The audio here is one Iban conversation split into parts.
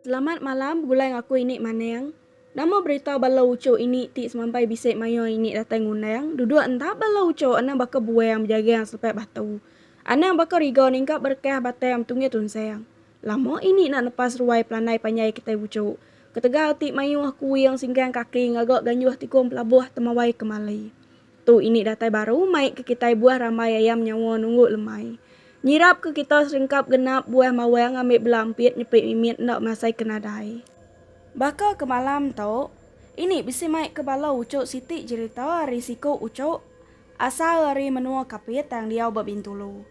Selamat malam begulai enggau aku ini maneng. Nama berita bala uchu ini ti semampai bisi mayuh ini datai ngundang duduk enda bala uchu anang baka buang bejagang selepai batu. Anang baka riga ningkap berekah batai am tunggih tunsang. Lama ini enda nepas ruai pelandai panjai kitai uchu. Ketegal ti mayuh kuing singkang kaki ngaga ganjuh tikung pelabuh temawai kemali. Tu ini datai baru mai ke kitai buah rambai ayam nyawa nunggu lemai. Nyirap ke kita seringkap genap buah mawang ambi bela ampit nyepi mimit enda masai ke nadai. Baka ke malam tu, ini bisi mai ke bala uchu siti jerita ari siku uchu asal ari menua Kapit tang diau ba Bintulu.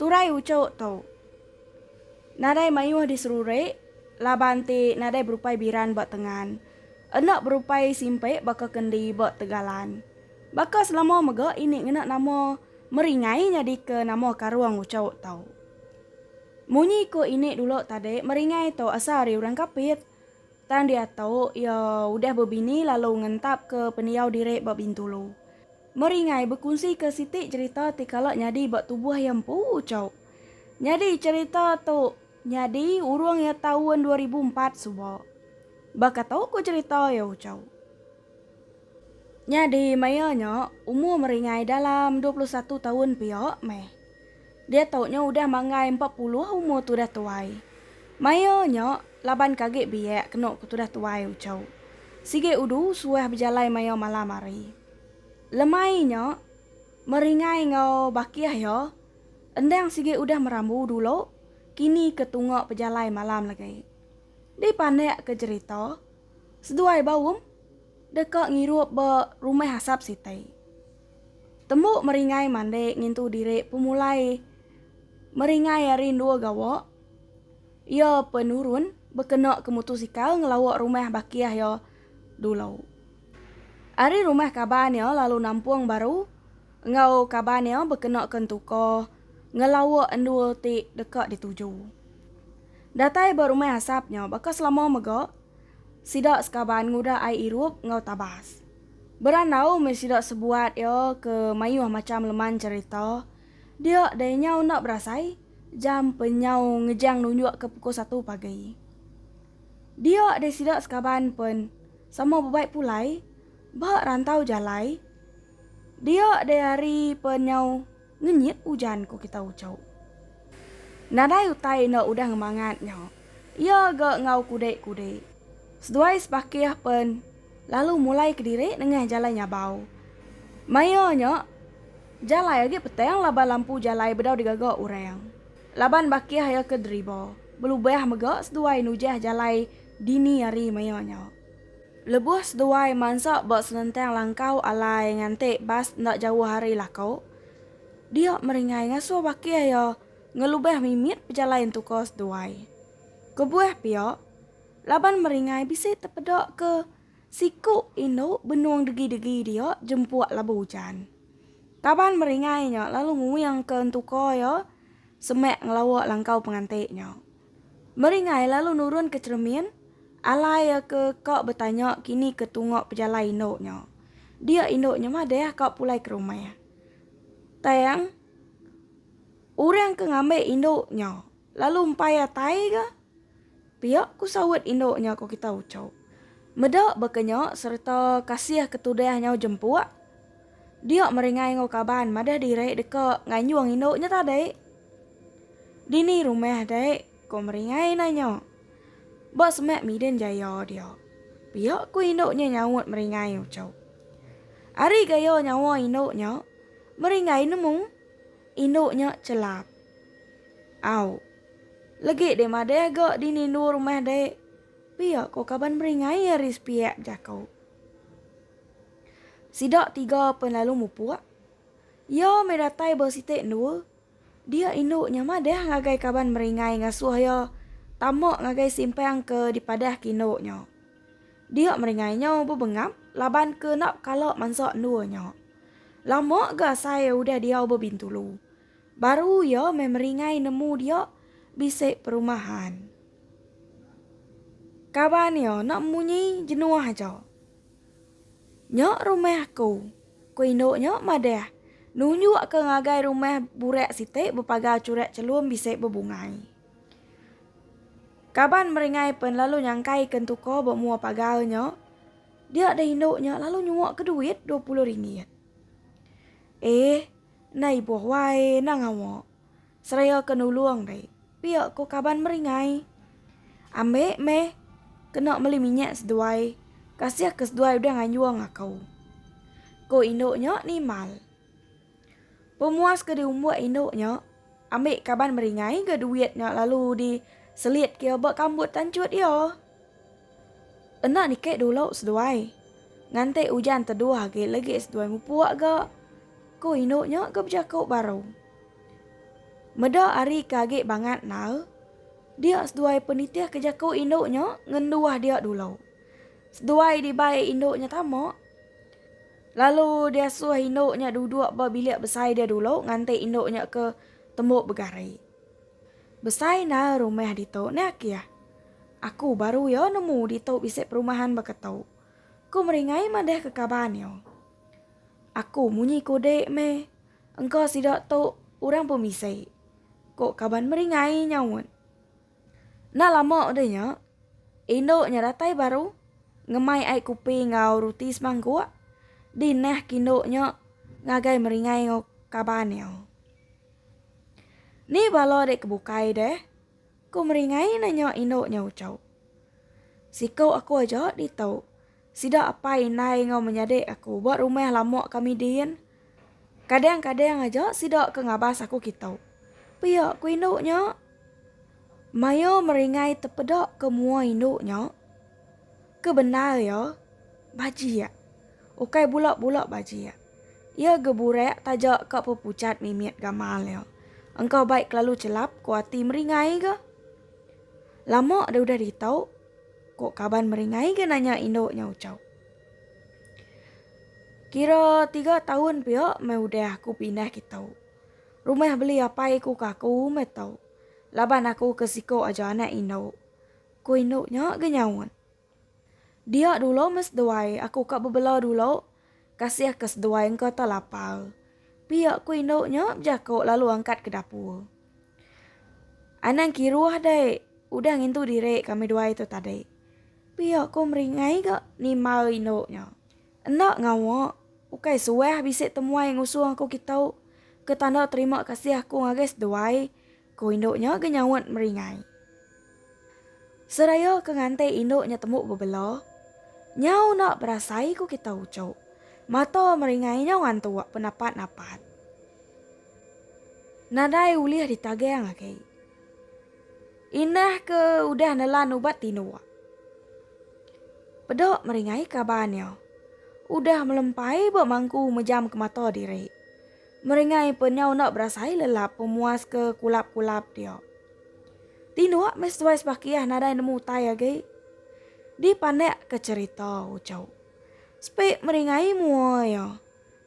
Turai uchu tu nadai mayuh diseruri laban ti nadai berupai biran ba tengan. Enda berupai simpek baka kendi ba tegalan. Baka selama mega ini ngena nama Meringai nyadika nama karung uchauk tu. Munyi ku ini dulu tadi Meringai tu asal ari orang Kapit. Tang diatu iya udah bebini lalu ngentapka pendiau diri ba Bintulu. Meringai bekunsika siti cherita ti kala nyadi ba tubuh iya empu uchauk. Nyadi cherita tu Nyadi urung iya taun dua ribu empat suba. Baka tu ku cherita iya ucau. Nyadi maya nya umur meringai dalam dua puluh satu taun pia meh. Diatu nya udah manggai empat puluh umur tudah tuai. Maya nya laban ke agi biak kenu ku tudah tuai ucau. Sigi udu suah bejalai maya malam hari. Lemai nya meringai enggau bakih iya. Endang sigi udah merambu dulu, kini ke tunga pejalai malam lagi. Dipandak ke jerita, seduai Baum deka ngirup ba rumah asap siti. Tembu Meringai mandi ngintu diri pemulai Meringai ari endua gawa, iya penurun bekena ke mutusikal ngelawa rumah bakih iya dulu. Ari rumah kaban iya lalu nampung baru. Enggau kaban iya bekenaka entuka ngelawa endur ti deka dituju. Datai ba rumah asap nya baka selama mega sida sekaban ngudah ai irup enggau tabas. Berandau meh sida sebuat iya ke mayuh macham leman cherita, dia dai nyau enda berasai jam penyau ngejang nunjuk ke pukul satu pagi. Dia dai sida sekaban pen sama bebai pulai ba rantau jalai. Dia deh hari pe nyau ngenyit ujan ko kita uco. Nadai utai enda udah ngemangat nya. Ia ga enggau kudek kudek. Seduai sepakih pen lalu mulai kediri nengah jalai nyabau. Maia nya jalai agi petang laban lampu jalai bedau digaga orang. Laban bakih ia ke deriba belubah mega seduai nujah jalai dini hari maia nya. Lebuh seduai mansa ba senentang langkau alai nganti bas enda jauh ari Lako, dia meringai ngasuh bakih iya ngelubah mimit pejalai entuka seduai. Kebuah pia, laban meringai bisi tepeda ke siku indu benung degi-degi dia jempuk labu ujan. Kaban meringai nya lalu nguingka entuka iya semak ngelawa langkau penganti nya. Meringai lalu nurun ke cheremin, alai iya ke ka betanya kini ke tunga pejalai indu nya. Dia indu nya madah ka pulai ke rumah. Tang orang ke ngambi indu nya lalu empai atai ga pia ku saut indu nya ko kita uchu. Meda baka nya sereta kasih ke tudah nyau jempuk, dia meringai enggau kaban madah diri deka nganjung indu nya tadi. Dini rumah dai? ko Meringai nanya. Ba semak Midin Jaya dia. Pia ku indu nya nyaut Meringai uchu. Ari gaya nyawa indu nya, Meringai nemu indu nya chelap. Au. Legi deh madah ga dini endur rumah dai? pia ko kaban Meringai ari sepiak bejaku. Sida tiga pen lalu mupuk. Iya meh datai ba siti endua. Dia indu nya madah ngagai kaban meringai ngasuh iya tama ngagai simpang ke dipadahka indu nya. Dia meringai nya bebengap laban ke enda bekala mansa endua nya. Lama ga asai udah diau ba Bintulu. Baru iya meh meringai nemu dia bisi perumahan. Kaban iya enda munyi jenuh aja. Nya rumah aku. Ku indu nya madah, nunjukka ngagai rumah burak siti bepagar churak chelum bisi bebungai. Kaban meringai pen lalu nyangkaika entuka ba mua pagar nya, dia deh indu nya lalu nyuaka duit dua puluh ringgit. Eh, enda ibuh wai, enda ngawa. Seraya ke nulung deh. Pia ko kaban meringai. Ambe meh kena meli minyak seduai. Kasih ke seduai udah nganyung aku. Ko indu nya nimbal. Pemuas ke diumbuk indu nya ambi kaban meringai ga duit nya lalu di selit ke ba kambut tanchut iya. Enda nike dulu seduai. Ngante ujan teduh agi legi seduai mupuk ga. Ko indu nya ga bejaku baru. Meda ari ke agi bangat endar, dia seduai penitih ke jaku indu nya ngenduah dia dulu. Seduai dibai indu nya tama, lalu diasuh indu nya duduk ba bilik besai dia dulu nganti indu nya ke tembu begari. Besai endar rumah ditu, ne akih. Aku baru iya nemu ditu bisi perumahan baka tu. Ku Meringai madahka kaban iya. Aku munyi kudi meh. Engka sida tu orang pemisi, ko kaban meringai nyaut. Enda lama udah nya, indu nya datai baru ngemai ai kupi enggau ruti semangkuk di neh kindu nya ngagai meringai enggau kaban iya. Ni bala dek ke bukai deh? ko meringai nanya indu nya uchu. Siku aku aja ditu. Sida apai indai enggau menyadi aku ba rumah lama kami din. Kadang-kadang aja sida ke ngabas aku kitu. Pia ku indu nya. Maya meringai tepeda ke mua indu nya, ke bendar iya bajik. Ukai bula-bula bajik. Iya geburak taja ka pepuchat mimit gamal iya. Engka bai kelalu chelap ku ati meringai ga. Lama deh udah ditu. Ko kaban meringai ke nanya indu nya Uchau. Kira tiga taun pia meh udah aku pindah kita. Rumah beli apai ku ke aku meh tu. Laban aku ke siko aja anak indu. Ko indu nya ke nyaut. Dia dulu mes duai aku ka bebela dulu Kasih ke seduai engka tau lapar. Pia ku indu nya bejako lalu angkat ke dapur. Anang kiruh deh udah ngintu diri kami duai tu tadi. Pia ku meringai ga nimba indu nya. Enda ngawa, ukai suah bisi temuai ngusung aku kitu ke tanda terima kasih aku ngagai seduai. Ku indu nya ke nyaut meringai. Seraya ke nganti indu nya tembu bebela, nyau enda berasai ku kita ucuk. Mata meringai nyau antuk penapat-napat. Nadai ulih ditagang agi. Indah ke udah nelan ubat tinduk. Peda meringai kaban iya. Udah melempai ba mangku mejamka mata diri. Meringai penyu enda berasai lelap pemuas ke kulap-kulap dia. Tinduk meh seduai sebakiah nadai nemu utai agi. Dipandak ke cerita uchu. Sepik meringai mua iya.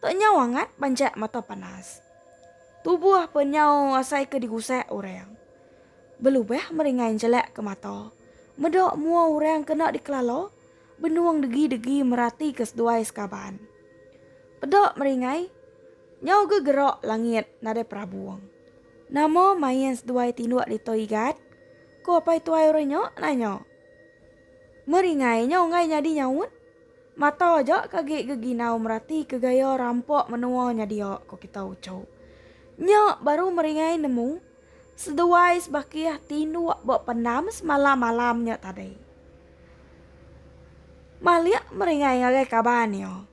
Tok nyau angat banjak mata panas. Tubuh penyu asai ke digusak orang. Belubah meringai njelak ke mata. Meda mua orang kena dikelala. Benung degi-degi meratika seduai sekaban. Peda meri ngai, nyau ga gerak langit nadai perabung. Nama main seduai tinduk ditu Igat? ku apai tuai orang nya nanya. Meri ngai nya unggai nyadi nyaut. Mata aja ke agi geginau meratika gaya rampa menua nya dia, ku kita uchu. Nya baru meri ngai nemu seduai sebakih tinduk ba pendam semalam-malam nya tadi. Malik meringai ngagai kaban iya.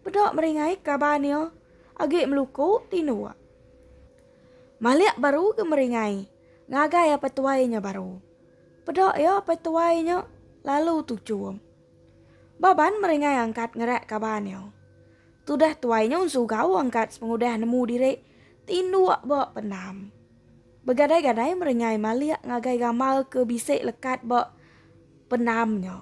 Peda meringai kaban iya agi meluku tinduk. Malik baru ke meringai ngagai apai tuai nya baru. Peda iya apai tuai nya lalu tuchum. Baban meringai angkat ngerak kaban iya. Tudah tuai nya ensugau angkat sepengudah nemu diri tinduk ba pendam. Begadai-gadai merengai malik ngagai gamal ke bisi lekat ba penam nya.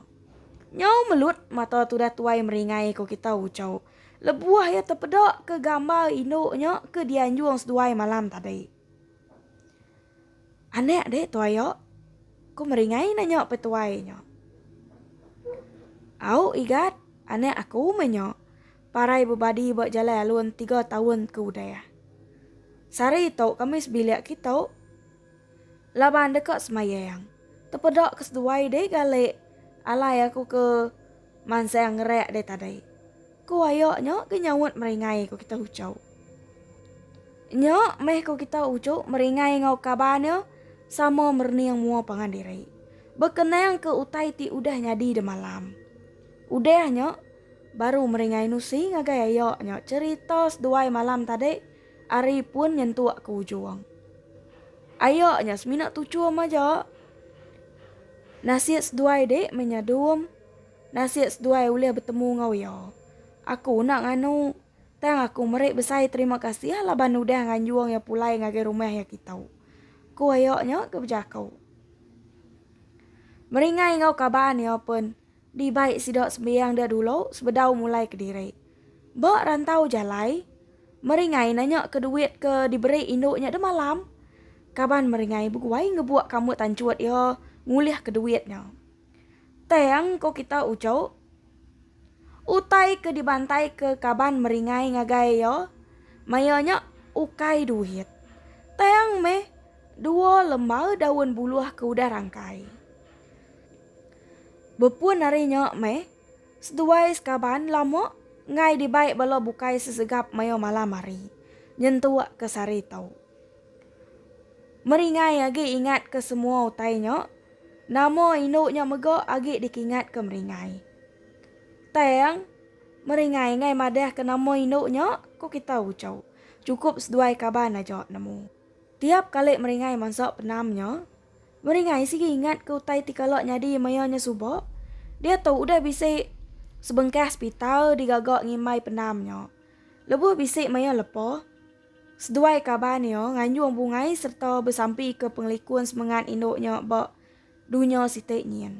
Nyau melut mata tudah tuai meringai ko kita Ucau lebuh iya tepeda ke gamal indu nya ke dianjung seduai malam tadi. Anak deh tuai iya? Ko meringai nanya pe tuai nya. Au Igat, anak aku meh nya. parai bebadi ba jalai alun tiga taun ke udah. Sehari tu kami sebilik kitu laban deka semayang. Tepeda ke seduai deh gali alai aku ke mansang ngerak deh tadi. Ku ayo nya ke nyaut meringai ku kita ucau. Nya meh ku kita ucu meringai ngau kaban nya sama merening mua pangan diri. Bekenang ke utai ti udah nyadi demalam. Udah nya. Baru meringai nusi ngagai ayo nyo cerita seduai malam tadi ari pun nyentuk ke ujung. Ayo nyo semina tuchum aja. Nasit seduai dik meh nya dum. Nasit seduai ulih betemu enggau iyo. Aku enda nganu. Tang aku meri besai terima kasih laban udah nganjung iyo pulai ngagai rumah iya kitu. Ku ayo nyo ke bejaku. Meringai enggau kaban iyo pun. Dibai sida sembiang dia dulu sebedau mulai kediri. Ba rantau jalai, Meringai nanyaka duit ke diberi indu nya deh malam. Kaban Meringai beguai ngebuak kamut tanchut iya ngulihka duit nya. Tang, ko kita uchu, utai ke dibantaika kaban Meringai ngagai iya maya nya ukai duit, tang meh dua lembar daun buluh ke udah rangkai. Bepun ari nya meh, seduai sekaban lama enggai dibai bala bukai sesegap mayuh malam hari nyentuk ke sehari tu. Meringai agi ingat ke semua utai nya, nama indu nya mega agi dikingat ke Meringai. Tang, Meringai enggai madah ke nama indu nya, ku kita uchu. Chukup seduai kaban aja nemu. Tiap kali Meringai mansa penam nya, Meringai sigi ingat ke utai ti kala nyadi maya nya suba, diatu udah bisi sebengkah sepital digaga ngimbai penam nya. Lebuh bisi maya lepa, seduai kaban iya nganjung bungai sereta besampika pengelikun semengat indu nya ba dunya siti nyin.